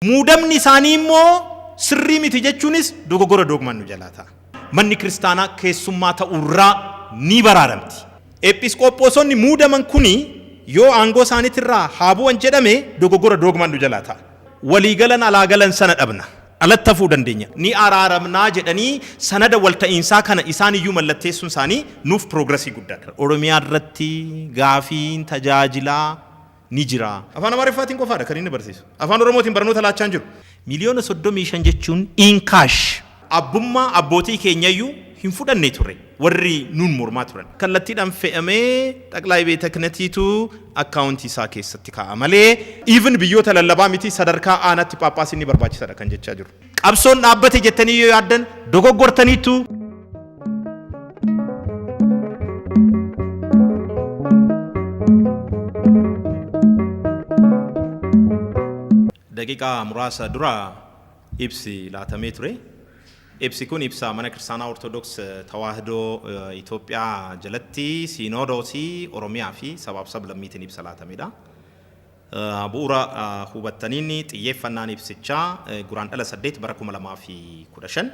Muudamni isaanii immoo sirrii miti jechuunis dogogora doogmaan nu jalaa ta'a. Manni kiristaanaa keessummaa ta'uu irraa ni baraaramti. Eephisqoophoosonni muudaman kuni yoo aangoo isaaniti irraa haa bu'an jedhame dogogora doogmaan nu jalaa ta'a. Walii galan alaa galan sana dhabna. Alatti hafuu dandeenya. Ni araaramnaa jedhanii sanada walta'iinsaa kana isaan iyyuu mallatteessuun isaanii nuuf piroograsii guddaadha. Oromiyaa irratti gaafiin tajaajilaa ni jira. Afaan Amaariffaatiin qofaadha kan inni barsiisu. Afaan Oromootiin barnoota laachaa hin jiru. Miliyoona 35 jechuun in cash. Abbummaa abbootii keenyayyuu hin fudhanne ture warri nuun mormaa turan. Kallattiidhaan fe'amee Xaqlaay Beeta Kinatiitu account isaa keessatti kaa'a malee. Even biyyoota lallabaa miti sadarkaa aanaatti phaaphaasiin ni barbaachisadha kan jechaa jirru. Qabsoon dhaabbate jettanii yoo yaaddan dogoggortaniittu. Daqiiqaa muraasa dura ibsi laatamee ture. Ibsi kun ibsa mana kiristaanaa Ortodoks Tawaahidoo Itoophiyaa jalatti Siinodoosii Oromiyaa fi sabaaf sablammiitiin ibsa laatamedha. Bu'uura hubattaniin xiyyeeffannaan ibsichaa Guraandhala 8 bara 2015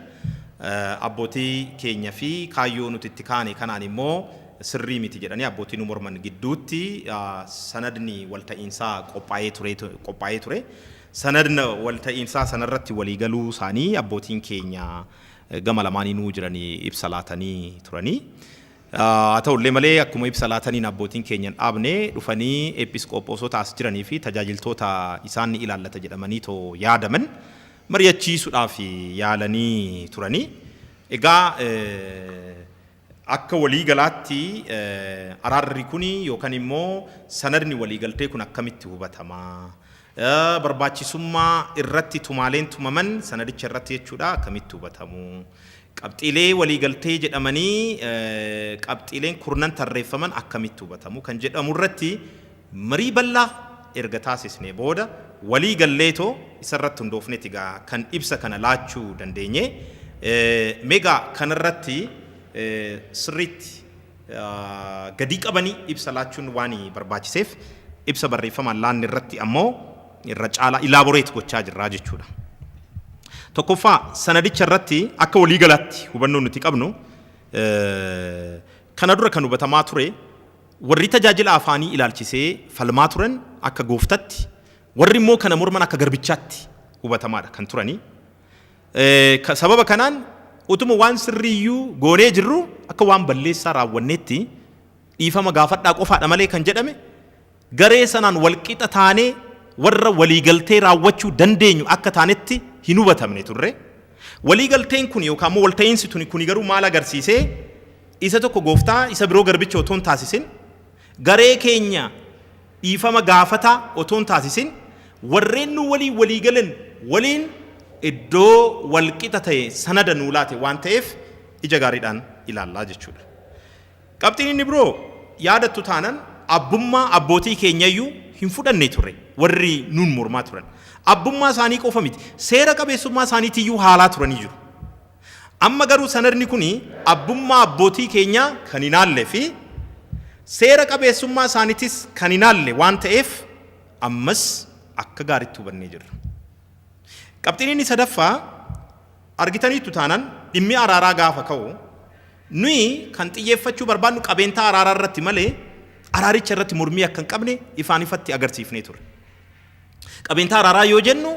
abbootii keenya fi kaayyoo nuti itti kaane kanaan immoo sirrii miti jedhanii abbootii nu morman gidduutti sanadni walta'iinsaa qophaa'ee ture. Sanadna walta'iinsaa sana irratti walii galuu isaanii abbootiin keenya gama lamaaniinuu jiranii ibsa laatanii turanii. Haa ta'u illee malee, akkuma ibsa laataniin abbootiin keenya hin dhaabne, dhufanii eephisqoophoosota as jiranii fi tajaajiltoota isaan ni ilaallata jedhamaniitoo yaadaman mari'achiisuudhaaf yaalanii turani. Egaa akka walii galaatti araarri kuni yookan immoo sanadni waliigaltee kun akkamitti hubatama? barbaachisummaa irratti tumaaleen tumaman sanadicha irratti jechuu dha akkamitti hubatamu? Qabxiilee waliigaltee jedhamanii qabxiileen kurnan tarreeffaman akkamitti hubatamu kan jedhamu irratti marii bal'aa erga taasisnee booda walii galleetoo isa irratti hundoofneeti egaa kan ibsa kana laachuu dandeenye. Mee egaa kana irratti sirriitti gadii qabanii ibsa laachuun waan barbaachiseef ibsa barreeffamaan laanne irratti ammoo irra caalaa ilaaboreet gochaa jirraa jechuudha. Tokkoffaa sanadicha irratti akka walii galaatti hubannoo nuti qabnu kana dura kan hubatamaa ture warri tajaajila afaanii ilaalchisee falmaa turan akka gooftatti warri immoo kana morman akka garbichaatti hubatamaadha kan turanii. Eh, ka- Sababa kanaan utuma waan sirriiyyuu goonee jirru akka waan balleessaa raawwanneetti dhiifama gaafadhaa qofaadha malee kan jedhame garee sanaan walqixa taanee warra waliigaltee raawwachuu dandeenyu akka taanetti hin hubatamne turre. Waliigalteen kun yookaan immoo walta'iinsi tuni kuni garuu maal agarsiisee isa tokko gooftaa isa biroo garbicha otoo hin taasisin garee keenya dhiifama gaafataa otoo hin taasisin warreen nuu waliin walii galan waliin iddoo wal qixa ta'e sanada nuu laate waan ta'eef ija gaariidhaan ilaallaa jechuudha. Qabxiin inni biroo yaadattu taanan abbummaa abbootii keenyayyuu hin fudhanne ture warri nuun mormaa turan. Abbummaa isaanii qofa miti seera qabeessummaa isaaniitiyyuu haalaa turanii jiru. Amma garuu sanadni kun abbummaa abbootii keenyaa kan hin haalle fi seera qabeessummaa isaanitis kan hin haalle waan ta'eef ammas akka gaaritti hubannee jirra. Qabxiin inni sadaffaa argitaniittu taanaan dhimmi araaraa gaafa ka'u nuyi kan xiyyeeffachuu barbaadnu qabeentaa araaraa irratti malee araaricha irratti mormii akka hin qabne ifaan ifatti agarsiifnee turre. Qabeentaa araaraa yoo jennu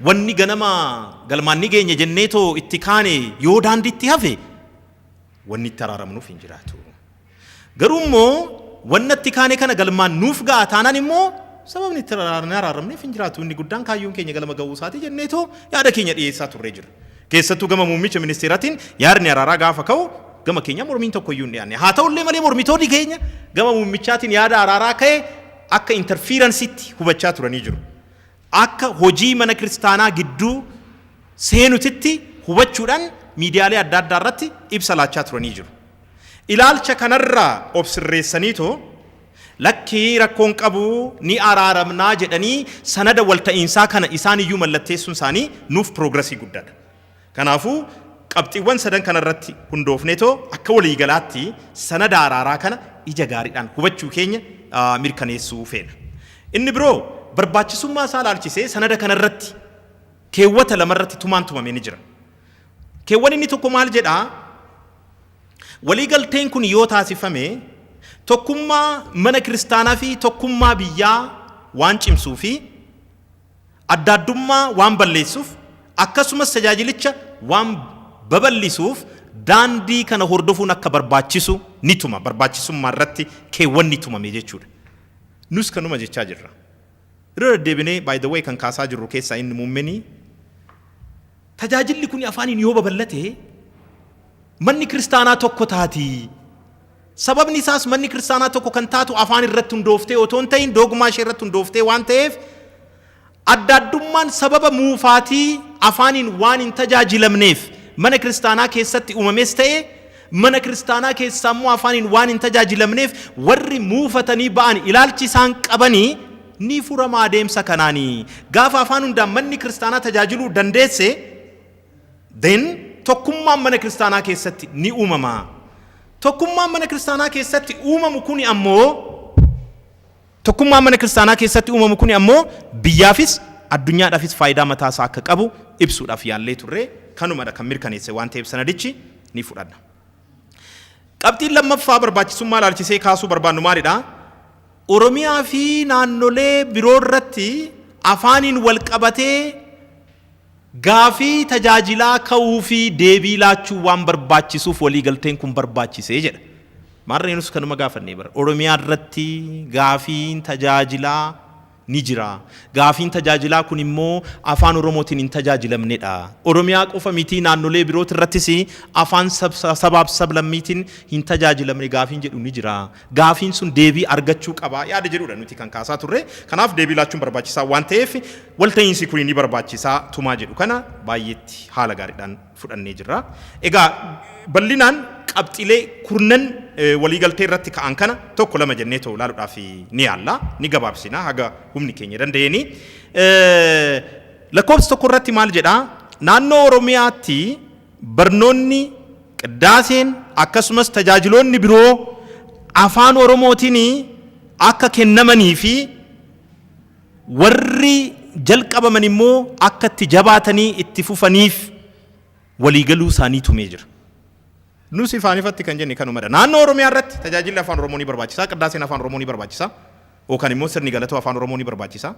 wanni ganama galmaan ni geenya jennee too itti kaane yoo daandiitti hafe wanni itti araaramnuuf hin jiraatu. Garuu immoo wanna itti kaane kana galmaan nuuf ga'a taanaan immoo sababni itti araaramneef hin jiraatu. Inni guddaan kaayyoon keenya galma ga'uu isaati jennee too yaada keenya dhiyeessaa turree jira. Keessattuu gama muummicha ministeeraatiin yaadni araaraa gaafa ka'u gama keenya mormiin tokko iyyuu hin dhiyaanne. Haa ta'ullee malee mormitoonni keenya gama muummichaatiin yaada araaraa ka'e akka interfiiransiitti hubachaa turanii jiru. Akka hojii mana kiristaanaa gidduu seenutitti hubachuudhaan miidiyaalee adda addaa irratti ibsa laachaa turanii jiru. Ilaalcha kanarraa of sirreessaniitoo lakki rakkoo hin qabu ni araaramnaa jedhanii sanada walta'iinsaa kana isaaniyyuu mallatteessuun isaanii nuuf piroograsii guddaadha. Kanaafuu, qabxiiwwan sadan kana irratti hundoofneetoo akka waliigalaatti sanada araaraa kana ija gaariidhaan hubachuu keenya mirkaneessuu feena. Inni biroo, barbaachisummaa isaa ilaalchisee sanada kana irratti keewwata lama irratti tumaan tumame ni jira. Keewwan inni tokko maal jedha? Waliigalteen kun yoo taasifame tokkummaa mana kiristaanaa fi tokkummaa biyyaa waan cimsuu fi adda addummaa waan balleessuuf akkasumas tajaajilicha waan babal'isuuf daandii kana hordofuun akka barbaachisu ni tuma. Barbaachisummaa irratti keewwanni tumame jechuudha. Nus kanuma jechaa jirra. Irra deddeebinee by the way kan kaasaa jirru keessaa inni muummeni tajaajilli kuni afaaniin yoo babal'ate manni kiristaanaa tokko taati. Sababni isaas manni kiristaanaa tokko kan taatu afaan irratti hundooftee otoo hin ta'in doogmaa ishee irratti hundooftee waan ta'eef adda addummaan sababa muufaatii afaaniin waan hin tajaajilamneef mana kiristaanaa keessatti uumames ta'e mana kiristaanaa keessaa immoo afaaniin waan hin tajaajilamneef warri muufatanii ba'an ilaalchi isaan qabanii ni furama adeemsa kanaanii gaafa afaan hundaan manni kiristaanaa tajaajiluu dandeesse Then tokkummaan mana kiristaanaa keessatti ni uumama. Tokkummaan mana kiristaanaa keessatti uumamu kuni ammoo tokkummaan mana kiristaanaa keessatti uumamu kuni ammoo biyyaafis addunyaadhaafis faayidaa mataa isaa akka qabu ibsuudhaaf yaallee turre kanumadha kan mirkaneesse waan ta'eef sanadichi ni fudhanna. Qabxiin lammaffaa barbaachisummaa ilaalchisee kaasuu barbaannu maalidha? Oromiyaa fi naannolee biroo irratti afaaniin wal qabatee Gaafii tajaajilaa ka'uu fi deebii laachuun waan barbaachisuuf waliigalteen kun barbaachise jedha. Maarree nus kanuma gaafannee bara. Oromiyaa irratti gaafiin tajaajilaa ni jira. Gaafiin tajaajilaa kun immoo Afaan Oromootiin hin tajaajilamnedha. Oromiyaa qofa mitii naannolee birooti irrattis afaan sabaaf sablammiitiin hin tajaajilamne gaafiin jedhu ni jira. gaafiin sun deebii argachuu qaba yaada jedhuudha nuti kan kaasaa turre. Kanaaf deebii laachuun barbaachisaa waan ta'eef walta'iinsi kuni ni barbaachisa tumaa jedhu kana baay'eetti haala gaariidhaan fudhannee jirra. Egaa bal'inaan qabxiilee kurnan waliigaltee irratti ka'an kana tokko lama jennee too ilaaluudhaaf ni yaalla ni gabaabsina haga humni keenya danda'eeni. Lakkoofsa tokko irratti maal jedhaa? Naannoo Oromiyaatti Barnoonni, Qiddaaseen akkasumas tajaajiloonni biroo Afaan Oromootiin akka kennamanii fi warri jalqabaman immoo akka itti jabaatanii itti fufaniif walii galuu isaanii tumee jira. Nus ifaan ifatti kan jenne kanumadha. Naannoo Oromiyaa irratti tajaajilli Afaan Oromoo ni barbaachisa, Qiddaaseen Afaan Oromoo ni barbaachisa. Yookaan immoo sirni galatoo Afaan Oromoo ni barbaachisa.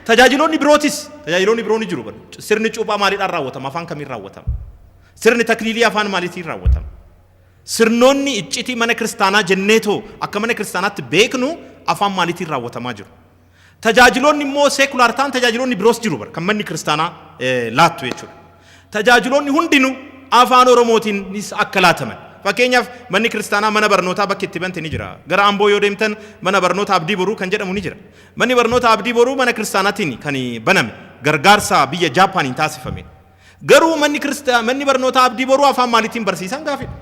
Tajaajiloonni birootis, tajaajiloonni biroo ni jiru. Sirni cuuphaa maaliidhaan raawwatama? Afaan kamiin raawwatama? Sirni takliilii afaan maaliitiin raawwatama? Sirnoonni iccitii mana kiristaanaa jenneetoo akka mana kiristaanaatti beeknu afaan maaliitiin raawwatamaa jiru? Tajaajiloonni immoo seekulaar ta'an tajaajiloonni biroos jiru bara kan manni kiristaanaa laattu jechuudha. Tajaajiloonni hundinuu Afaan Oromootiinis akka laataman. Fakkeenyaaf, manni kiristaanaa mana barnootaa bakki itti bante ni jira. Gara Amboo yoo deemtan mana barnoota Abdii Boruu kan jedhamu ni jira. Manni barnoota Abdii Boruu mana kiristaanaatiin kan baname, gargaarsa biyya Jaappaaniin taasifameen. Garuu manni manni barnootaa Abdii Boruu afaan maaliitiin barsiisan gaafidha.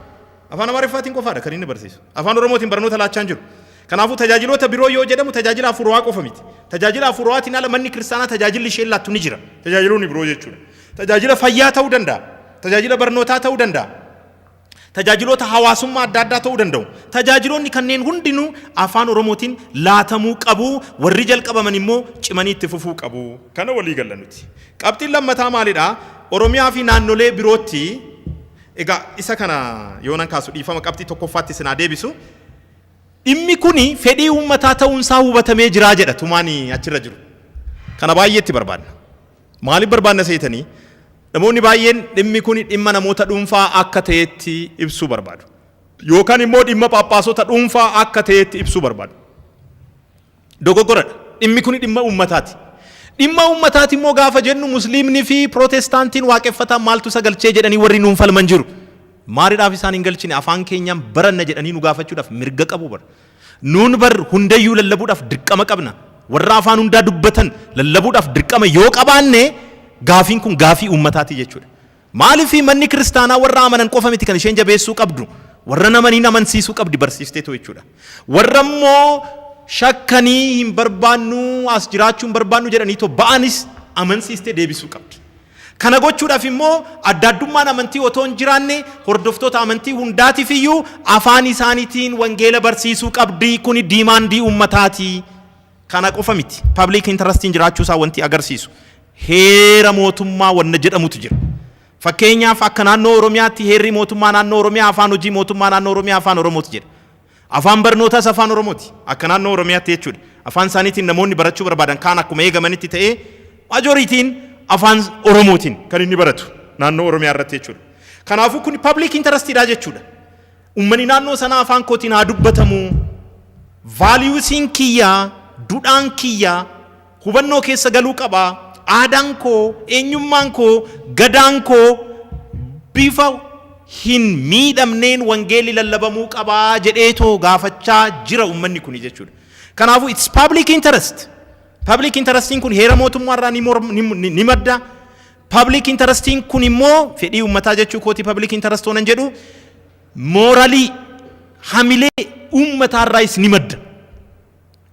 Afaan Amaariffaatiin qofaadha kan inni barsiisu. Afaan Oromootiin barnoota laachaa hin jiru. Kanaafuu tajaajiloota biroo yoo jedhamu tajaajila hafuurawaa qofa miti. Tajaajila hafuurawaatiin ala manni kiristaanaa tajaajilli isheen laattu ni jira. Tajaajiloonni biroo jechuudha. Tajaajila fayyaa ta'uu danda'a. Tajaajila barnootaa ta'uu danda'a. Tajaajiloota hawaasummaa adda addaa ta'uu danda'u. Tajaajiloonni kanneen hundinuu afaan Oromootiin laatamuu qabu. Warri jalqabaman immoo cimanii itti fufuu qabu. Kana walii galla nuti. Qabxiin lammataa maalidha? Oromiyaa fi naannolee birootti Egaa isa kana yoonan kaasu dhiifama qabxii tokkoffaatti isin haa deebisu. Dhimmi kuni fedhii uummataa ta'uun isaa hubatamee jiraa jedha tumaan achirra jiru. Kana baay'ee itti barbaadna. Maaliif barbaadna seetanii? Namoonni baay'een dhimmi kuni dhimma namoota dhuunfaa akka ta'etti ibsuu barbaadu. Yookaan immoo dhimma phaaphaasota dhuunfaa akka ta'etti ibsuu barbaadu. Dogoggoradha. Dhimmi kuni dhimma uummataati. Dhimma uummataati immoo gaafa jennu Musliimni fi Pirootestaantiin waaqeffataan maaltu isa galchee jedhanii warri nuun falman jiru. Maalidhaaf isaan hin galchine afaan keenyaan baranna jedhanii nu gaafachuudhaaf mirga qabu bar. Nuun bar hundayyuu lallabuudhaaf dirqama qabna. Warra afaan hundaa dubbatan lallabuudhaaf dirqama yoo qabaanne gaafiin kun gaafii uummataati jechuudha. Maaliif manni kiristaanaa warra amanan qofa miti kan isheen jabeessuu qabdu, warra hin amaniin amansiisuu qabdi barsiifteetu jechuudha. Warra immoo shakkanii hin barbaannu, as jiraachuu hin barbaannu jedhanii too ba'anis amansiistee deebisuu qabdi. Kana gochuudhaaf immoo adda addummaan amantii otoo hin jiraanne hordoftoota amantii hundaatiif iyyuu afaan isaaniitiin wangeela barsiisuu qabdi. Kuni diimaandii uummataati. Kana qofa miti. Pabliik intarastiin jiraachuu isaa wanti agarsiisu Heera mootummaa wanna jedhamutu jira. Fakkeenyaaf akka naannoo Oromiyaatti heerri mootummaa naannoo Oromiyaa afaan hojii mootummaa naannoo Oromiyaa afaan Oromooti jedha. Afaan barnootaas afaan Oromooti. Akka naannoo Oromiyaatti jechuudha. Afaan isaaniitiin namoonni barachuu barbaadan kaan akkuma eegamanitti ta'ee majooriitiin afaan Oromootiin kan inni baratu naannoo Oromiyaa irratti jechuudha. Kanaafuu kun public interest dha jechuudha. Ummani naannoo sanaa afaan kootiin haa dubbatamu. Valuesiin kiyya, dudhaan kiyya, hubannoo keessa galuu qaba. Aadaan koo, eenyummaan koo, Gadaan koo bifa hin miidhamneen wangeelli lallabamuu qaba jedheetoo gaafachaa jira ummanni kuni jechuudha. Kanaafuu it's public interest. Public interestiin kun heera mootummaa irraa ni, morm, ni, ni, ni madda. Public interestiin kun immoo fedhii ummataa jechuu kooti public interest oonan jedhu mooralii hamilee ummataarraayis ni madda.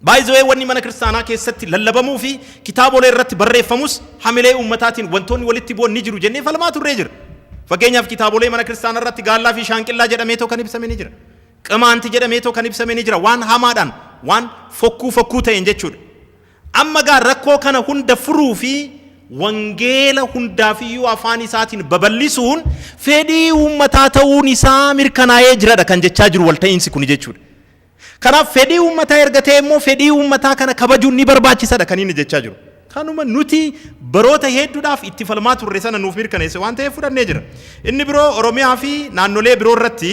By the way wanni mana kiristaanaa keessatti lallabamuu fi kitaabolee irratti barreeffamus hamilee uummataatiin wantoonni walitti bu'an ni jiru jennee falmaa turree jira. Fakkeenyaaf kitaabolee mana kiristaanaa irratti gaallaa fi shaanqillaa jedhameetoo kan ibsame ni jira. Qimaanti jedhameetoo kan ibsame ni jira waan hamaadhaan waan fokkuu fokkuu ta'een jechuudha. Amma gaa rakkoo kana hunda furuu fi wangeela hundaafiyyuu afaan isaatiin babal'isuun fedhii uummataa ta'uun isaa mirkanaa'ee jiradha kan jechaa jiru walta'iinsi kuni jechuudha. Kanaaf fedhii uummataa erga ta'e immoo fedhii uummataa kana kabajuun ni barbaachisadha kan inni jechaa jiru. Kanuma nuti baroota hedduudhaaf itti falmaa turre sana nuuf mirkaneesse waan ta'eef fudhannee jira. Inni biroo Oromiyaa fi naannolee biroo irratti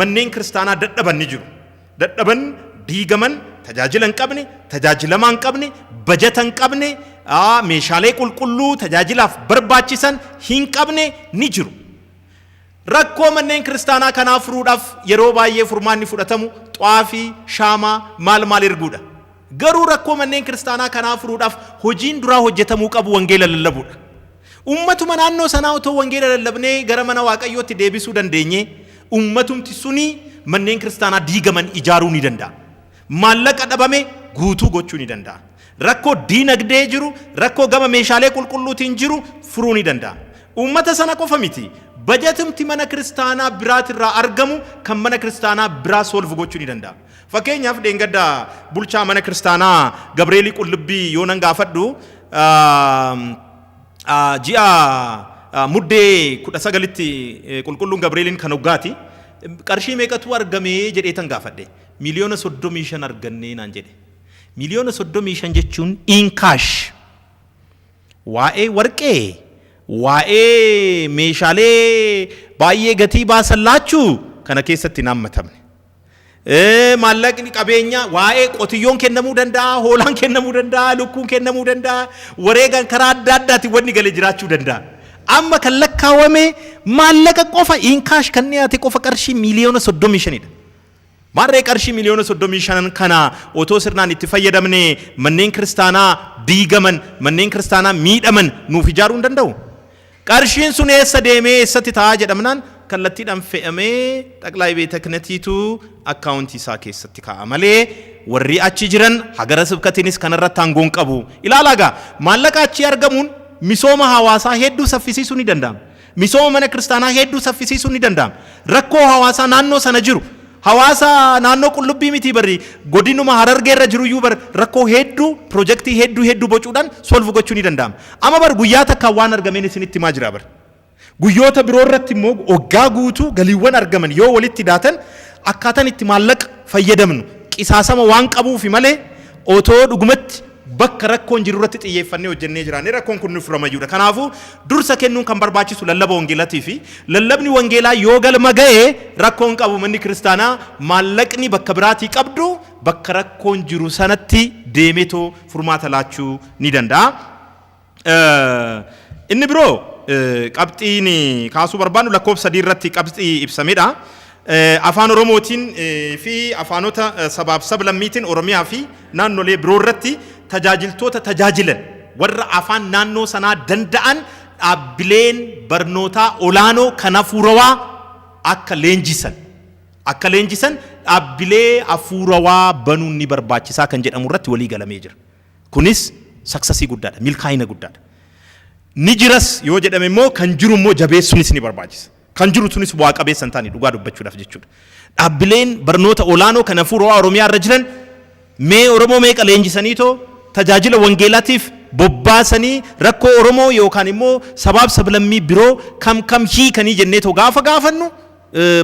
manneen kiristaanaa dadhaban ni jiru. Dadhaban, diigaman, tajaajila hin qabne, tajaajilamaa hin qabne, bajata hin qabne, aa, meeshaalee qulqulluu tajaajilaaf barbaachisan hin qabne ni jiru. Rakkoo manneen kiristaanaa kanaa furuudhaaf yeroo baay'ee furmaanni fudhatamu xwaafii, shaamaa, maal maal erguudha. Garuu rakkoo manneen kiristaanaa kanaa furuudhaaf hojiin duraa hojjetamuu qabu wangeela lallabuudha. Ummatuma naannoo sanaa otoo wangeela lallabnee gara mana Waaqayyootti deebisuu dandeenyee ummatumti suni manneen kiristaanaa diigaman ijaaruu ni danda'a. Maallaqa dhabame guutuu gochuu ni danda'a. Rakkoo diinagdee jiru, rakkoo gama meeshaalee qulqulluutiin jiru furuu ni danda'a. Uummata sana qofa miti, bajatumti mana kiristaanaa biraatirraa argamu kan mana kiristaanaa biraa solve gochuu ni danda'a. Fakkeenyaaf dheengadda bulchaa mana kiristaanaa Gabreelii Qullubbii yoo nan gaafadhu ji'a muddee 19tti qulqulluun Gabreeliin kan hoggaati qarshii meeqatu argame jedheetan gaafadhe. Miliyoona 35 arganne naan jedhe. Miliyoona 35 jechuun in cash waa'ee warqee, waa'ee meeshaalee baay'ee gatii baasan laachuu kana keessatti hin haammatamne. Maallaqni qabeenyaa waa'ee qotiyyoon kennamuu danda'a, hoolaan kennamuu danda'a, lukkuun kennamuu danda'a, wareegaan karaa adda addaatiin wanni gale jiraachuu danda'a. Amma kan lakkaawame maallaqa qofa in cash kan dhiyaate qofa qarshii miliyoona 35 dha. Maarree qarshii miliyoona 35n kana otoo sirnaan itti fayyadamnee manneen kiristaanaa diigaman, manneen kiristaanaa miidhaman nuuf ijaaruu hin danda'u? Qarshiin sun eessa deemee eessatti ta'a jedhamnaan kallattiidhaan fe'amee Xaqlaay Beeta Kinatiitu akkaawuntii isaa keessatti kaa'a malee warri achi jiran hagara sibkatiinis kanarratti aangoo hin qabu. Ilaalaa egaa maallaqa achii argamuun misooma hawaasaa hedduu saffisiisuu ni danda'ama. Misooma mana kiristaanaa heedduu saffisiisuun ni danda'ama. Rakkoo hawaasaa naannoo sana jiru, hawaasa naannoo qullubbii mitii bari godinuma harargee irra jiru iyyuu bar rakkoo heedduu pirojektii heedduu heedduu bocuudhaan solve gochuu ni danda'ama. Amma bar guyyaa takkaan waan argameen isinitti himaa jira bar. Guyyoota biroo irratti immoo waggaa guutuu galiiwwan argaman yoo walitti daatan akkaataan itti maallaqa fayyadamnu qisaasama waan qabuufi malee otoo dhugumatti Bakka rakkoon jiru irratti xiyyeeffannee hojjennee jiraannee rakkoon kun nuuf ramayuu dha. Kanaafuu, dursa kennuun kan barbaachisu lallaba wangeelatii fi lallabni wangeelaa yoo galma ga'e rakkoo hin qabu. Manni kiristaanaa maallaqni bakka biraatii qabdu bakka rakkoon jiru sanatti deemeetoo furmaata laachuu ni danda'a. Inni biroo qabxiin kaasuu barbaannu lakkoofsa sadii irratti qabxii ibsamedha. Afaan Oromootiin fi afaanota sabaaf sablammiitiin Oromiyaa fi naannolee biroo irratti tajaajiltoota tajaajilan warra afaan naannoo sanaa danda'an dhaabbileen barnootaa olaanoo kan hafuurawaa akka leenjisan akka leenjisan dhaabbilee hafuurawaa banuun ni barbaachisaa kan jedhamu irratti walii galamee jira. Kunis saksasii guddaadha, milkaa'ina guddaadha. Ni jiras yoo jedhame immoo kan jiru immoo jabeessuunis ni barbaachisa. Kan jiru sunis bu'aa qabeessa hin taane dhugaa dubbachuudhaaf jechuudha. Dhaabbileen barnoota olaanoo kan hafuurawaa Oromiyaa irra jiran mee Oromoo meeqa leenjisaniitoo tajaajila wangeelaatiif bobbaasanii rakkoo Oromoo yookaan immoo sabaaf sablammii biroo kam kam hiikanii jenneetoo gaafa gaafannu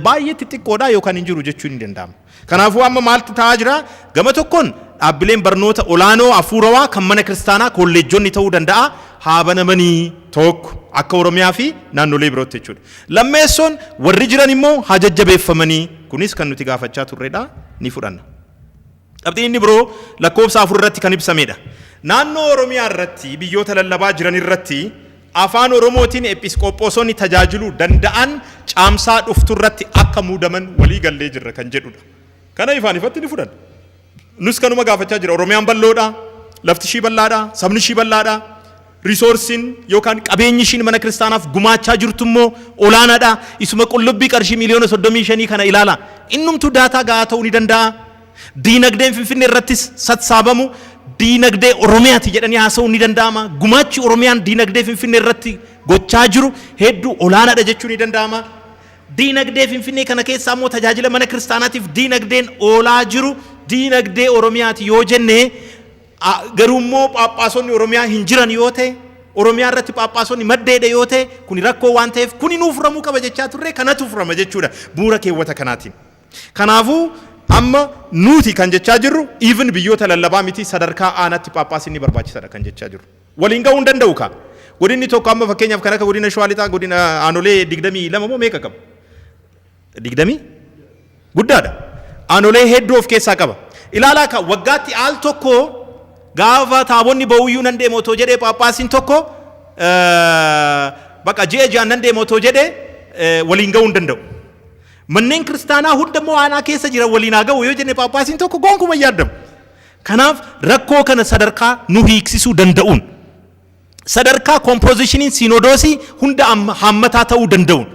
baay'ee xixiqqoodha yookaan hin jiru jechuun ni danda'ama. Kanaafuu amma maaltu ta'aa jira? Gama tokkoon dhaabbileen barnoota olaanoo hafuurawaa kan mana kiristaanaa kolleejjonni ta'uu danda'a haa banamanii tokko akka Oromiyaa fi naannolee birootti jechuudha. Lammeessoon warri jiran immoo haa jajjabeeffamanii kunis kan nuti gaafachaa turredha ni fudhanna. Qabxiin inni biroo lakkoofsa 4 irratti kan ibsameedha. Naannoo Oromiyaa irratti biyyoota lallabaa jiran irratti Afaan Oromootiin Ephisqophoosoonni tajaajiluu danda'an Caamsaa dhuftu irratti akka muudaman walii gallee jirra kan jedhudha. Kana ifaan ifatti ni fudhanna. Nus kanuma gaafachaa jira. Oromiyaan bal'oodha, lafti ishii bal'aadha, sabni ishii bal'aadha. Risoorsiin yookaan qabeenyi ishiin mana kiristaanaaf gumaachaa jirtu immoo olaanaadha. Isuma qullubbii qarshii miiliyoona 35 kana ilaalaa. Innumtuu daataa ga'aa ta'uu ni danda'aa? Diinagdeen Finfinnee irrattis satsaabamu diinagdee Oromiyaati jedhanii haasa'uun ni danda'ama? Gumaachi Oromiyaan diinagdee Finfinnee irratti gochaa jiru hedduu olaanaadha jechuun ni danda'ama? Diinagdee Finfinnee kana keessaa immoo tajaajila mana kiristaanaatiif diinagdeen oolaa jiru diinagdee Oromiyaati yoo jenne a Garuu immoo phaaphaasonni Oromiyaa hin jiran yoo ta'e, Oromiyaa irratti phaaphaasonni madda hidha yoo ta'e, kuni rakkoo waan ta'eef kuni nuu furamuu qaba jechaa turre, kanatu furama jechuudha bu'uura keewwata kanaatiin. Kanaafuu amma nuuti kan jechaa jirru even biyyoota lallabaa miti sadarkaa aanaatti phaaphaasiin ni barbaachisadha kan jechaa jirru. Waliin gahuu hin danda'u kaa. Godinni tokko amma fakkeenyaaf kan akka godina Shawaa Lixaa godina aanolee 22 moo meeqa qaba? digdamii guddaadha. Aanolee hedduu of keessaa qaba. Ilaalaa ka waggaatti al tokko gaafa taabonni ba'uyyuu nan deema otoo jedhee phaaphaasiin tokko baqa ji'a ji'aan nan deema otoo jedhee waliin ga'uu hin danda'u. Manneen kiristaanaa hunda immoo aanaa keessa jira waliin haa ga'u yoo jenne phaaphaasiin tokko gonkumaa hin yaadamu. Kanaaf rakkoo kana sadarkaa nu hiiksisuu danda'uun sadarkaa kompoozishiniin siinodoosii hunda amma- haammataa ta'uu danda'uun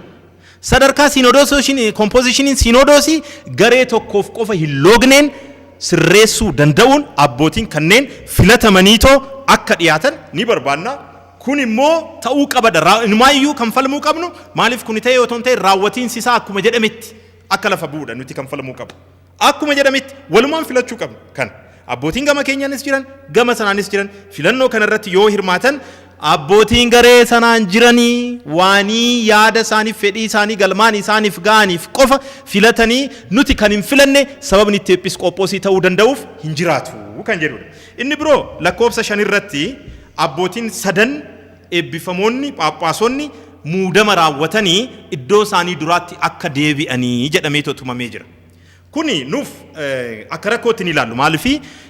sadarkaa siinodoososhin- kompoozishiniin siinodoosii garee tokkoof qofa hin loogneen sirreessuu danda'uun abbootiin kanneen filatamaniitoo akka dhiyaatan ni barbaanna. Kun immoo ta'uu qabada. Raa- Inumaayyuu kan falmuu qabnu maaliif kuni ta'ee otoo hin ta'in raawwatiinsi isaa akkuma jedhametti akka lafa bu'uudha nuti kan falmuu qabnu. Akkuma jedhametti walumaan filachuu qabna. Kan abbootiin gama keenyaanis jiran gama sanaanis jiran filannoo kana irratti yoo hirmaatan abbootiin garee sanaan jiranii waanii yaada isaaniif fedhii isaanii galmaan isaaniif ga'aniif qofa filatanii nuti kan hin filanne sababni itti eephisqoophoosii ta'uu danda'uuf hin jiraatu kan jedhudha. Inni biroo lakkoofsa shan irratti abbootiin sadan eebbifamoonni phaaphaasonni muudama raawwatanii iddoo isaanii duraatti akka deebi'anii jedhameetu tumamee jira. Kuni nuuf akka rakkootti ni ilaallu. Maaliif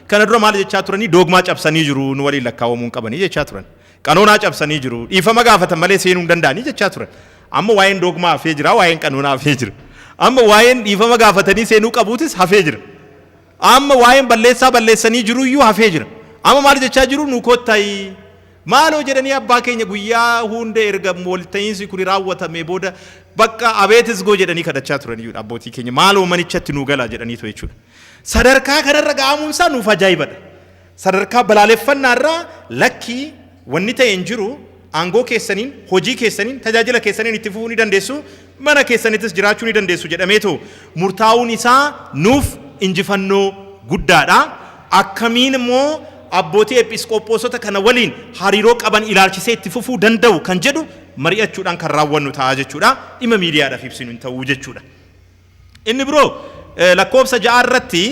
kana dura maal jechaa turanii doogmaa cabsanii jiru nu waliin lakkaawamuu hin qabanii jechaa turan. Qanoonaa cabsanii jiru dhiifama gaafatan malee seenuu hin danda'anii jechaa turan. Amma waa'een doogmaa hafee jira waa'een qanoonaa hafee jira. Amma waa'een dhiifama gaafatanii seenuu qabuutis hafee jira. Amma waa'een balleessaa balleessanii jiru iyyuu hafee jira. Amma maal jechaa jiru nu kottayi Maaloo jedhanii abbaa keenya guyyaa huunda erga walta'iinsi kuni raawwatamee booda baqqa abeet isgoo jedhanii kadhachaa turaniyyuudha abbootii keenya maaloo manichatti nuu galaa jedhaniitoo jechuudha. Sadarkaa kanarra ga'amuun isaa nuuf ajaa'ibadha. Sadarkaa balaaleffannaarraa lakkii wanni ta'e hin jiru aangoo keessaniin, hojii keessaniin, tajaajila keessaniin itti fufuu ni dandeessu, mana keessanittis jiraachuu ni dandeessu jedhameetu murtaa'uun isaa nuuf injifannoo guddaa dha. Akkamiin immoo abbootii Ephisqophosota kana waliin hariiroo qaban ilaalchisee itti fufuu danda'u kan jedhu mari'achuudhaan kan raawwannu ta'a jechuu dha. Dhimma miidiyaadhaaf ibsinu hin ta'u jechuu dha. Inni biroo lakkoofsa 6 irratti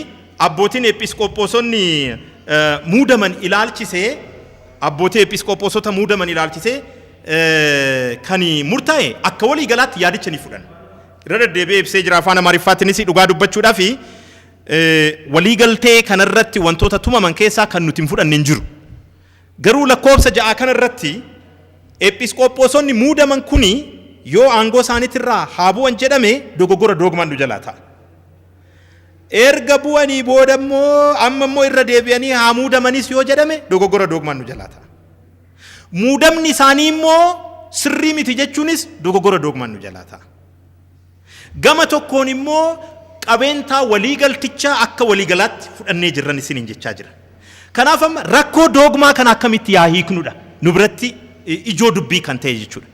abbootiin Ephisqophosonni muudaman ilaalchisee, Abbootii Eepiisqoophoosota muudaman ilaalchisee kan murtaa'e akka walii galaatti yaadicha ni fudhan. Irra deddeebi'ee ibsee jira afaan Amaariffaatiinis dhugaa dubbachuudhaaf walii galtee kanarratti wantoota tumaman keessaa kan nuti hin fudhanne hin jiru. Garuu lakkoofsa ja'aa kanarratti Eepiisqoophoosonni muudaman kuni yoo aangoo isaaniitirraa haa bu'an jedhame dogoggora doogmaan nu jalaa ta'a. Erga bu'anii booda immoo amma immoo irra deebi'anii haa muudamanis yoo jedhame dogoggora doogmaan nu jalaa ta'a. Muudamni isaanii immoo sirrii miti jechuunis dogoggora doogmaan nu jalaa ta'a. Gama tokkoon immoo qabeentaa waliigaltichaa akka waliigalaatti fudhannee jirran isiniin jechaa jira. Kanaaf amma rakkoo doogmaa kana akkamitti yaa hiiknudha nu biratti ijoo dubbii kan ta'e jechuudha.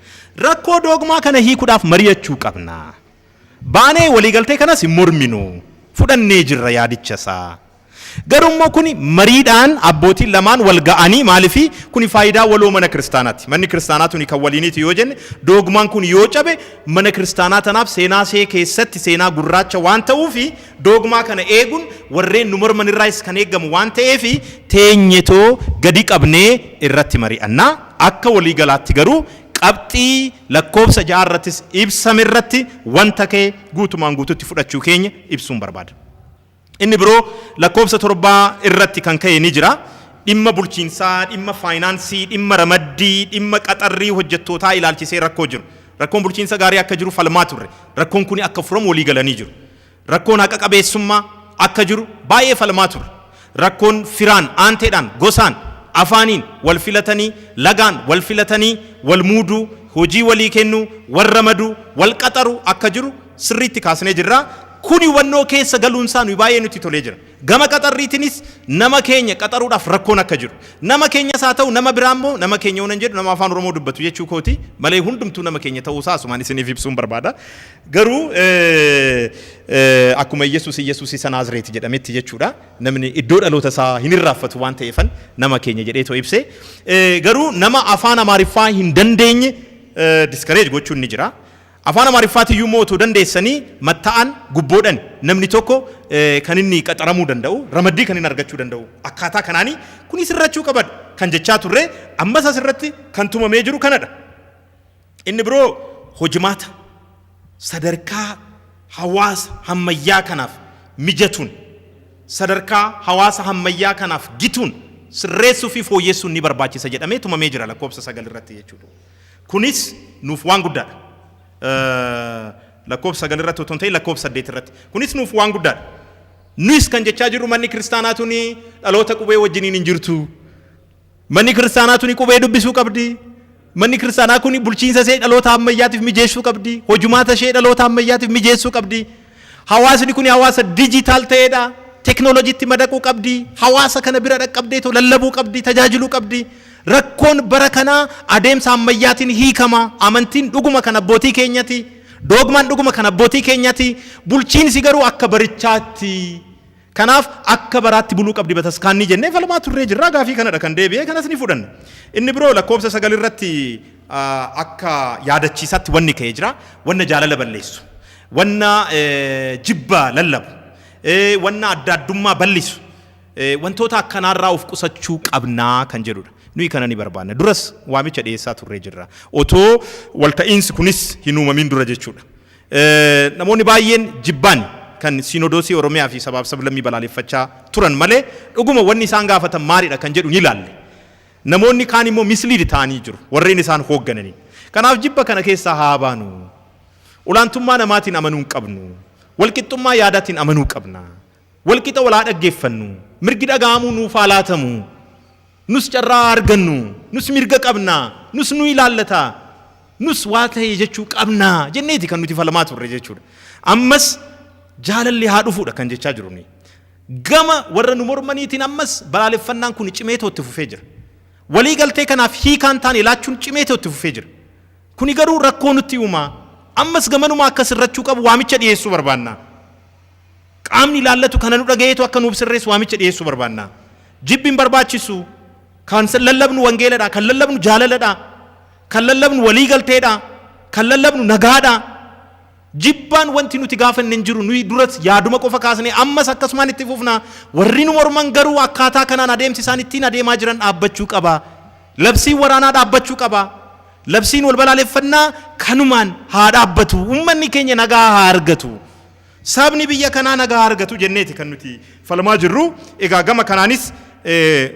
Rakkoo doogmaa kana hiikuudhaaf mari'achuu qabna. baanee waliigaltee kanas hin morminu, fudhannee jirra yaadicha isaa. Garuu immoo kuni mariidhaan abbootiin lamaan wal ga'anii maaliif kuni faayidaa waloo mana kiristaanaati. Manni kiristaanaa tuni kan waliiniiti yoo jenne doogmaan kun yoo cabe mana kiristaanaa tanaaf seenaa see keessatti seenaa gurraacha waan ta'uuf doogmaa kana eegun warreen nu morman irraayis kan eegamu waan ta'eef teenyetoo gadi qabnee irratti mari'anna. Akka waliigalaatti garuu Qabxii lakkoofsa 6 irrattis ibsame irratti wanta ka'e guutumaan guutuutti fudhachuu keenya ibsuun barbaada. Inni biroo lakkoofsa 7 irratti kan ka'e ni jira. Dhimma bulchiinsaa, dhimma faayinaansii, dhimma ramaddii, dhimma qaxarrii hojjettootaa ilaalchisee rakkoo jiru. Rakkoon bulchiinsa gaarii akka jiru falmaa turre. Rakkoon kuni akka furamu walii galanii jiru. Rakkoon haqa qabeessummaa akka jiru baay'ee falmaa turre. Rakkoon firaan, aanteedhaan, gosaan, afaaniin wal filatanii, lagaan wal filatanii wal muuduu, hojii walii kennuu, wal ramaduu, wal qaxaruu akka jiru sirriitti kaasnee jirra. Kuni hubannoo keessa galuun isaa nuyi baay'ee nutti tolee jira. Gama qaxarriitinis nama keenya qaxaruudhaaf rakkoon akka jiru. Nama keenyas haa ta'u nama biraa immoo, nama keenya yoonan jedhu nama Afaan Oromoo dubbatu jechuu kooti, malee hundumtuu nama keenya ta'uu isaa asumaan isiniif ibsuun barbaada. Garuu akkuma Iyyasuus Iyyasuus isa Naazreeti jedhametti jechuudha. Namni iddoo dhaloota isaa hin irraanfatu waan ta'eefan nama keenya jedhee too ibse. Garuu nama afaan Amaariffaa hin dandeenye diskareej gochuun ni jira. Afaan Amaariffaati iyyuu immoo otoo dandeessanii matta'aan gubboodhan namni tokko kan inni qaxaramuu danda'u ramaddii kan inni argachuu danda'u akkaataa kanaanii kunis irrachuu qabadha kan jechaa turre ammas asirratti kan tumamee jiru kanadha. Inni biroo hojimaata sadarkaa hawaasa hammayyaa kanaaf mijatuun sadarkaa hawaasa hammayyaa kanaaf gituun sirreessuu fi fooyyessuun ni barbaachisa jedhamee tumamee jira lakkoofsa 9 irratti jechuu dha. Kunis nuuf waan guddaa dha. Lakkoofsa 9 irratti otoo hin ta'in lakkoofsa 8 irratti. Kunis nuuf waan guddaa dha. Nuyis kan jechaa jirru manni kiristaanaa tuni dhaloota qubee wajjiniin hin jirtu. Manni kiristaanaa tuni qubee dubbisuu qabdi. Manni kiristaanaa kun bulchiinsa ishee dhaloota ammayyaatiif mijeessuu qabdi. Hojumaata ishee dhaloota ammayyaatiif mijeessuu qabdi. Hawaasni kun hawaasa dijitaal ta'edha. Teknooloojiitti madaquu qabdi. Hawaasa kana bira dhaqqabdee too lallabuu qabdi, tajaajiluu qabdi. Rakkoon bara kanaa adeemsa ammayyaatiin hiikama. Amantiin dhuguma kan abbootii keenyati. Doogmaan dhuguma kan abbootii keenyati. Bulchiinsi garuu akka barichaatti. Kanaaf akka baraatti buluu qabdi bataskaanni jennee falmaa turree jirra. Gaafii kanadha kan deebi'e. Kanas ni fudhanna. Inni biroo lakkoofsa sagal irratti akka yaadachiisaatti wanni ka'e jira. Wanna jaalala balleessu, wanna jibba lallabu, wanna adda addummaa ballisu wantoota akkanaarraa of qusachuu qabna kan jedhudha. Nuyi kana ni barbaanna. Duras waamicha dhiyeessaa turree jirra. Otoo walta'iinsi kunis hin uumamiin dura jechuudha. Namoonni baay'een jibbaan kan Siinodoosii Oromiyaa fi Sabaaf Sablammii balaaleffachaa turan malee dhuguma wanni isaan gaafatan maalidha kan jedhu ni laalle. Namoonni kaan immoo mislead ta'anii jiru warreen isaan hooggananiin. Kanaaf jibba kana keessaa haa baanu. Olaantummaa namaatiin amanuu hin qabnu. Walqixxummaa yaadaatiin amanuu qabna. walqixa wal haa dhaggeeffannu, mirgi dhaga'amuu nuuf haa laatamu, nus carraa haa argannu, nus mirga qabna, nus nu ilaallata, nus waa ta'e jechuu qabna jenneeti kan nuti falmaa turre jechuudha. Ammas jaalalli haa dhufuudha kan jechaa jiru nuyi. Gama warra nu mormaniitiin ammas balaaleffannaan kun cimeetoo itti fufee jira. Walii galtee kanaaf hiikaan taane laachuun cimeetoo itti fufee jira. Kuni garuu rakkoo nutti uumaa ammas gamanumaa akka sirrachuu qabu waamicha dhiyeessuu barbaanna. Qaamni ilaallatu kana nu dhagayeetu akka nuuf sirreessu waamicha dhiyeessuu barbaanna. Jibbi hin barbaachisu. Kan lallabnu wangeeladha. Kan lallabnu jaalaladha. Kan lallabnu walii galteedha. Kan lallabnu nagaadha. Jibbaan wanti nuti gaafanne hin jiru. Nuyi duras yaaduma qofa kaasnee ammas akkasumaan itti fufna. Warri nu morman garuu akkaataa kanaan adeemsi isaan ittiin adeemaa jiran dhaabbachuu qaba. Labsiin waraanaa dhaabbachuu qaba. Labsiin wal balaaleffannaa kanumaan haa dhaabbatu. Uummanni keenya nagaa haa argatu. Sabni biyya kanaa nagaa haa argatu jenneeti kan nuti falmaa jirru. Egaa gama kanaanis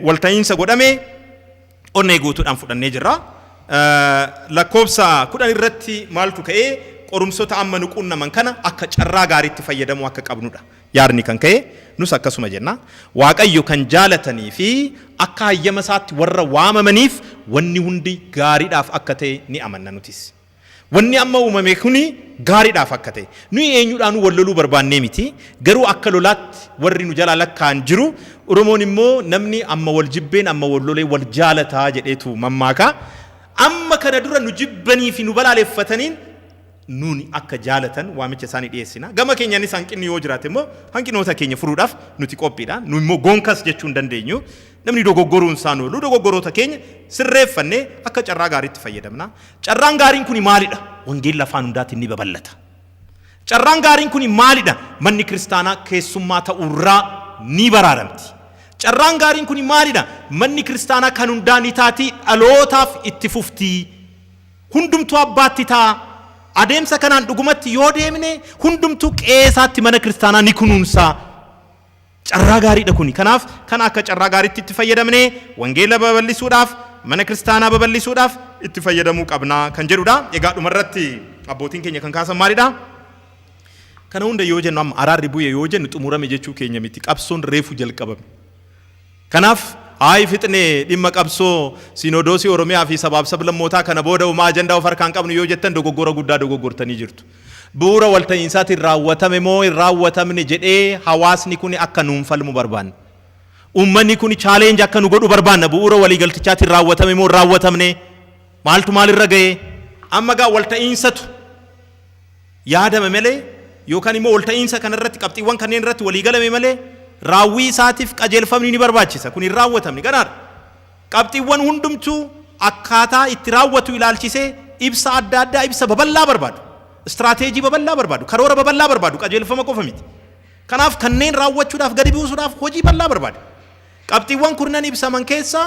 walta'iinsa godhame onnee guutuudhaan fudhannee jirra. Lakkoofsa 10 irratti maaltu ka'e? Qorumsota amma nu quunnaman kana akka carraa gaariitti fayyadamuu akka qabnudha yaadni kan ka'e. Nus akkasuma jenna. Waaqayyo kan jaalatanii fi akka hayyama isaatti warra waamamaniif wanni hundi gaariidhaaf akka ta'e ni amanna nutis. Wanni amma uumame kuni gaariidhaaf akka ta'e. Nuyi eenyudhaanuu wal loluu barbaannee miti. Garuu akka lolaatti warri nu jalaa lakkaa'an jiru. Oromoon immoo namni amma wal jibbeen amma wal lolee wal jaalata jedheetu mammaaka. Amma kana dura nu jibbanii fi nu balaaleffataniin nuun akka jaalatan waamicha isaanii dhiyeessina. Gama keenyaanis hanqinni yoo jiraate immoo hanqinoota keenya furuudhaaf nuti qophiidha. Nu immoo goonkas jechuu hin dandeenyu. Namni dogoggoruun isaa hin oolu. Dogoggoroota keenya sirreeffannee akka carraa gaariitti fayyadamna. Carraan gaariin kuni maalidha? Wangeelli afaan hundaatiin ni babal'ata. Carraan gaariin kuni maalidha? Manni kiristaanaa keessummaa ta'uurraa ni baraaramti. Carraan gaariin kuni maalidha? Manni kiristaanaa kan hundaa ni taati, dhalootaaf itti fufti. Hundumtuu abbaatti ta'a. Adeemsa kanaan dhugumatti yoo deemne hundumtuu qe'ee isaatti mana kiristaanaa ni kunuunsa. Carraa gaariidha kuni. Kanaaf kana akka carraa gaariitti itti fayyadamnee wangeela babal'isuudhaaf, mana kiristaanaa babal'isuudhaaf itti fayyadamuu qabna kan jedhudha. Egaa dhumarratti abbootiin keenya kan kaasan maalidha? Kana hunda yoo jennu amma araarri bu'e yoo jennu xumurame jechuu keenya miti. Qabsoon reefu jalqabame. Kanaaf, Ayi fixne dhimma qabsoo Sinoodoosii Oromiyaa fi Sabaaf Sablammootaa kana booda homaa ajandaa of harkaan qabnu yoo jettan dogoggora guddaa dogoggortanii jirtu. Bu'uura walta'iinsaatiin raawwatame moo hin raawwatamne jedhee hawaasni kuni akka nuun falmu barbaanna. Uummanni kuni challenge akka nu godhu barbaanna bu'uura waliigaltichaatiin raawwatame moo hin raawwatamne? Maaltu maalirra ga'e? Amma egaa walta'iinsatu. yaadame malee yookan immoo walta'iinsa kana irratti qabxiiwwan kanneen irratti walii galame malee raawwii isaatiif qajeelfamni ni barbaachisa. Kun hin raawwatamne ganaadha. Qabxiiwwan hundumtuu akkaataa itti raawwatu ilaalchisee ibsa adda addaa ibsa babal'aa barbaadu. Istiraateejii babal'aa barbaadu. Karoora babal'aa barbaadu. Qajeelfama qofa miti. Kanaaf kanneen raawwachuudhaaf gadi buusuudhaaf hojii bal'aa barbaada. Qabxiiwwan kurnan ibsaman keessaa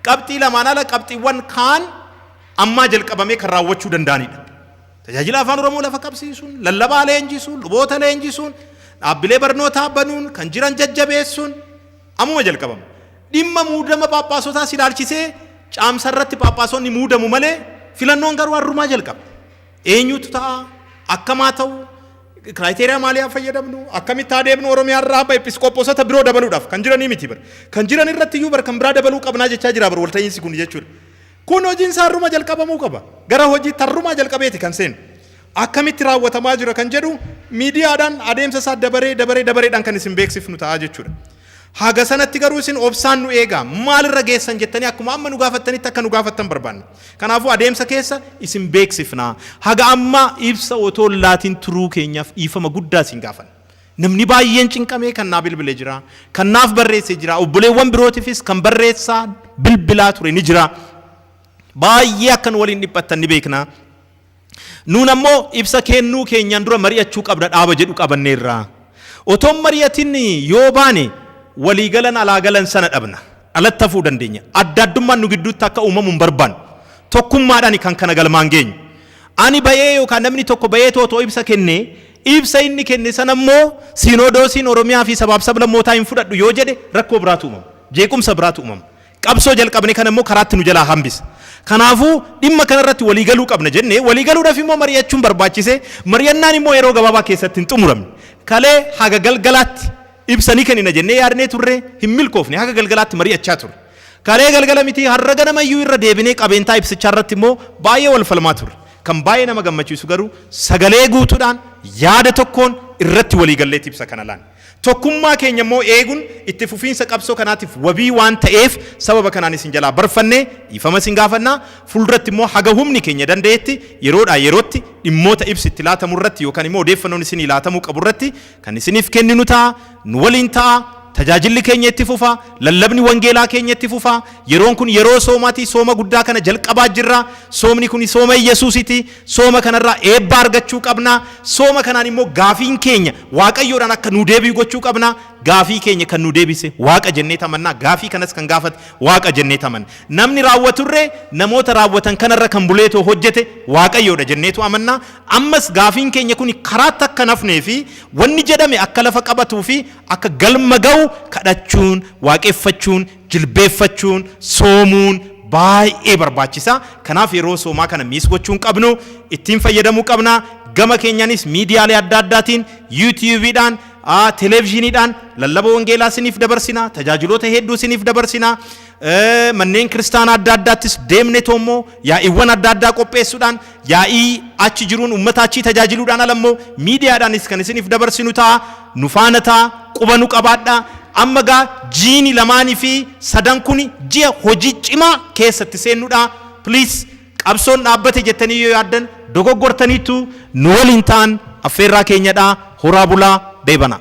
qabxii lamaan ala qabxiiwwan kaan ammaa jalqabamee kan raawwachuu danda'anidha. Tajaajila Afaan Oromoo lafa qabsiisuun, lallabaa leenjisuun, luboota leenjisuun, dhaabbilee barnootaa banuun, kan jiran jajjabeessuun ammuma jalqabama. Dhimma muudama phaaphaasotaas ilaalchisee Caamsarratti phaaphaasonni muudamu malee filannoon garuu harrumaa jalqaba. Eenyutu ta'a? Akkam haa ta'u? Kiraayiteeriyaa maalii haa fayyadamnu? Akkamitti haa deemnu? Oromiyaarraa abba episkooposota biroo dabaluudhaaf kan jiranii miti bar. Kan jiran irratti iyyuu bar kan biraa dabaluu qabnaa jechaa jira bar walta'iinsi kun jechuudha. Kun hojiin isaa harruma jalqabamuu qaba. Gara hojiitti harrumaa jalqabeeti kan seenu. Akkamitti raawwatamaa jira kan jedhu miidiyaadhaan adeemsa isaa dabaree dabaree dabareedhaan kan isin beeksifnu ta'a jechuudha. Haga sanatti garuu isin obsaan nu eegaa maalirra geessan jettanii akkuma amma nu gaafattanitti akka nu gaafattan barbaanna. Kanaafuu adeemsa keessa isin beeksifna. Haga ammaa ibsa otoo laatiin turuu keenyaaf dhiifama guddaa isin gaafanna. Namni baay'een cinqamee kan naa bilbile jira, kan naaf barreesse jira, obboleewwan birootifis kan barreessaa bilbilaa ture ni jira. Baay'ee akka nu waliin dhiphattan ni beekna. Nuun ammoo ibsa kennuu keenyaan dura mari'achuu qabna dhaaba jedhu qabanneerra. Otoon mari'atin yoo baane walii galan alaa galan sana dhabna. alatti hafuu dandeenya. Adda addummaan nu gidduutti akka uumamu hin barbaannu. Tokkummaadhaani kan kana galmaan geenyu. Ani ba'ee yookaan namni tokko ba'eetu otoo ibsa kennee, ibsa inni kenne sana immoo Siinoodoosiin Oromiyaa fi Sabaaf Sablammootaa hin fudhadhu yoo jedhe rakkoo biraatu uumama. Jeequmsa biraatu uumama. Qabsoo jalqabne kana immoo karaatti nu jalaa hambisa. Kanaafuu dhimma kana irratti walii galuu qabna jennee walii galuudhaaf immoo mari'achuun barbaachise. Mari'annaan immoo yeroo gabaabaa keessatti hin xumuramne. Kalee haga galgalaatti Ibsa ni kennina jennee yaadnee turre, hin milkoofne, haga galgalaatti mari'achaa turre. Kalee galgala miti har'a ganama iyyuu irra deebinee qabeentaa ibsichaa irratti immoo baay'ee wal falmaa turre. Kan baay'ee nama gammachiisu garuu sagalee guutuudhaan, yaada tokkoon irratti walii galleeti ibsa kana laanne. Tokkummaa keenya immoo eegun itti fufiinsa qabsoo kanaatiif wabii waan ta'eef sababa kanaan isin jalaa barfanne dhiifama isin gaafanna. Fuulduratti immoo haga humni keenya danda'etti yeroodhaa yerootti dhimmoota ibsi itti laatamu irratti yookaan immoo odeeffannoon isinii laatamuu qabu irratti Kan isiniif kenninu ta'a, nu waliin ta'a, tajaajilli keenya itti fufa, lallabni wangeelaa keenya itti fufa, yeroon kun yeroo soomaati, sooma guddaa kana jalqabaa jirra, soomni kuni sooma Iyyasuusiti, sooma kanarraa eebba argachuu qabna, sooma kanaan immoo gaafiin keenya Waaqayyoodhaan akka nuu deebi'u gochuu qabna, gaafii keenya kan nuu deebise Waaqa jennee tamanna, gaafii kanas kan gaafate Waaqa jennee tamanna. Namni raawwaturree namoota raawwatan kanarra kan buleetoo hojjete Waaqayyoodha jenneetu amanna. Ammas gaafiin keenya kuni karaatti akka hin hafnee fi wanni jedhame akka lafa qabatuu fi akka galma gahu kadhachuun, waaqeffachuun, jilbeeffachuun, soomuun baay'ee barbaachisa. Kanaaf yeroo soomaa kana miis gochuu hin qabnu, ittiin fayyadamuu qabna. Gama keenyanis miidiyaalee adda addaatiin, YouTube dhaan, Television dhaan lallaba wangeelaa isiniif dabarsina, tajaajiloota hedduu isiniif dabarsina. manneen kiristaanaa adda addaattis deemnetoo immoo yaa'iiwwan adda addaa qopheessuudhaan yaa'ii achi jiruun uummata achii tajaajiluudhaan ala immoo miidiyaadhaanis kan isiniif dabarsinu ta'a nu faana ta'a quba nu qabaadha amma gaa jiini lamaanii fi sadan kun ji'a hojii cimaa keessatti seennuudha please Qabsoon dhaabbate jettanii yoo yaaddan dogoggortaniittu, nu waliin ta'an affeerraa keenyadha. Horaa bulaa, beebanaa!